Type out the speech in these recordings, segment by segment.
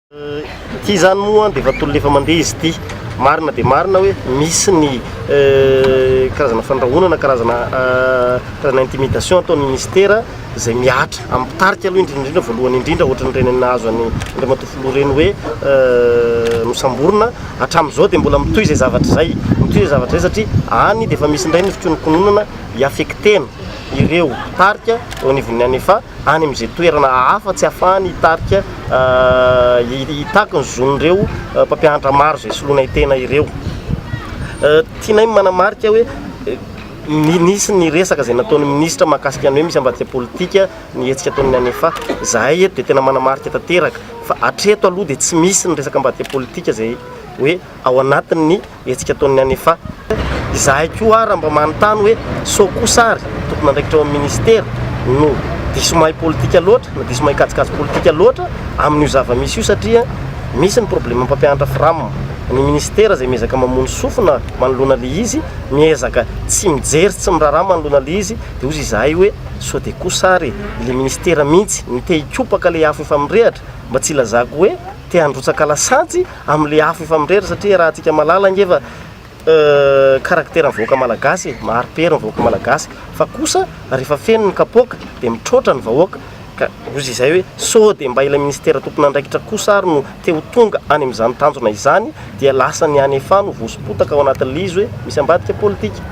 Ity izany moa dia efa tolona efa mandeha izy ity. Marina dia marina hoe misy ny eh, karazana fandrahonana, karazana eh, karazana intimidation ataon'ny ministera izay mihatra amin'ny mpitarika aloha indrindra indrindra voalohany indrindra ohatrany ireny nahazo any Andriamatoa Filoha ireny hoe eh, nosamborina hatramin'izao dia mbola mitohy izay zavatra izay mitohy izay zavatra izay satria any dia efa misy indray ny fikonokononana hiafektena ireo mpitarika eo anivon'ny anefa any amin'izay toerana hafa tsy ahafahany hitarika hitaky ny zon'ireo mpampianatra maro izay solonay tena ireo. Tianay ny manamarika hoe nisy ny resaka izay nataon'ny minisitra mahakasika ny hoe misy ambadika politika ny hetsika ataon'ny ANEFA. Izahay eto dia tena manamarika tanteraka fa hatreto aloha dia tsy misy ny resaka ambadika politika izay hoe ao anatin'ny hetsika ataon'ny ANEFA. Izahay koa ary mba manontany hoe sao kosa ary tompon'andraikitra ao amin'ny minisitera no diso mahay politika loatra na diso mahay kajikajy politika loatra amin'io zava-misy io satria misy ny problema mpampianatra fram. Ny minisitera izay miezaka mamono sofina manoloana ilay izy, miezaka tsy mijery sy tsy miraharaha manoloana ilay izy dia hozy izahay hoe sao dia kosa ary ilay minisitera mihitsy no te-hikopaka ilay afo efa mirehatra mba tsy hilazako hoe te-handrotsaka lasantsy Amle afo efa mirery satria raha tsika malala nge fa caractère ny vahoaka malagasy e, mahari pery ny vahoaka malagasy fa kosa rehefa feno ny kapoaka de mitroatra ny vahoaka ka ozy izay hoe sao de mba ilay ministera tompon andraikitra kosa ary no te ho tonga any amin izany tanjona izany dia lasa ny any efa no voasompotaka ao anatin le izy hoe misy ambadika politika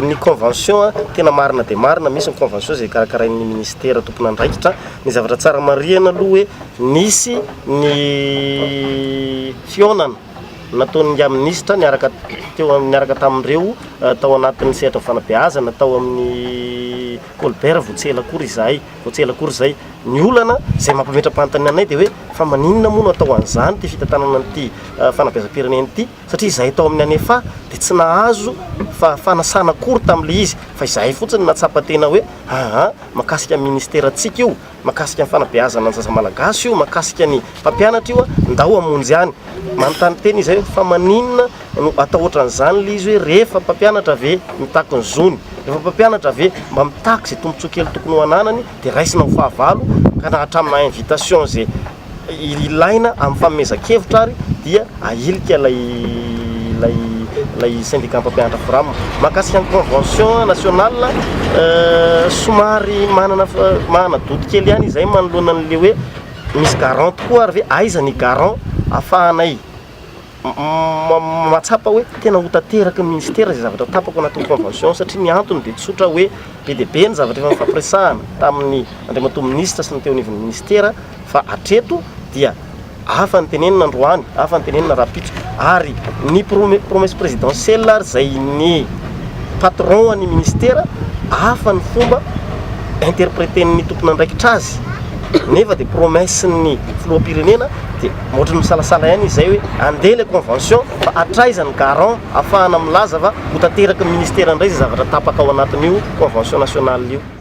ny convention a tena marina dia marina misy ny convention izay karakarain ny ministera tompon andraikitra ny zavatra tsara marihina aloha hoe Nisy ny fihaonana nataon'ingahy minisitra niaraka teo niaraka tamin'ireo tao anatin'ny sehatry ny fanabeazana tao amin'ny Colbert vao tsy ela akory izahay, vao tsy ela akory izay. Ny olana izay mampametra-panontaniana anay dia hoe fa maninona moa no atao an'izany ity fitantanana an'ity fanabeazam-pirenena ity satria izahay tao amin'ny Anefa dia tsy nahazo fanasana akory tamin'ilay izy fa izahay fotsiny no nahatsapa tena hoe aa mahakasika ny ministerantsika io. Mahakasika ny fanabeazana ny zaza malagasy io, mahakasika ny mpampianatra io, ndao hamonjy any. Manontany tena izy hoe fa maninona no atao ohatran'izany ilay izy hoe rehefa mpampianatra ve mitaky ny zony, rehefa mpampianatra ve mba mitaky izay tombontsoa kely tokony ho ananany dia raisina ho fahavalo ka na hatraminà invitation izay ilaina amin'ny fanomezan-kevitra ary dia ahilika ilay ilay ilay syndicat mpampianatra Fram. Mahakasika ny convention national somary manana manana doute kely ihany izay manoloana an'ilay hoe misy garant tokoa ary ve aiza ny garant afahanay mahatsapa hoe tena ho tanteraky ny ministera izay zavatra tapaka ao anatin'ny convention satria ny antony dia tsotra hoe be dia be ny zavatra efa nifampiresahana tamin'ny andriamatoa minisitra sy ny teo anivon'ny ministera fa hatreto dia hafa ny tenenina androany hafa ny tenenina rahampitso ary ny promesse présidentielle ary izay ny patron an'ny ministera hafa ny fomba interpréter-n'ny tompon'andraikitra azy nefa dia promesse-n'ny filoham-pirenena dia Ohatran'ny misalasala ihany izy izay hoe andeha ilay convention fa hatraiza ny garant hahafahana milaza fa ho tanteraky ny ministera indray izay zavatra tapaka ao anatin'io convention nationale io.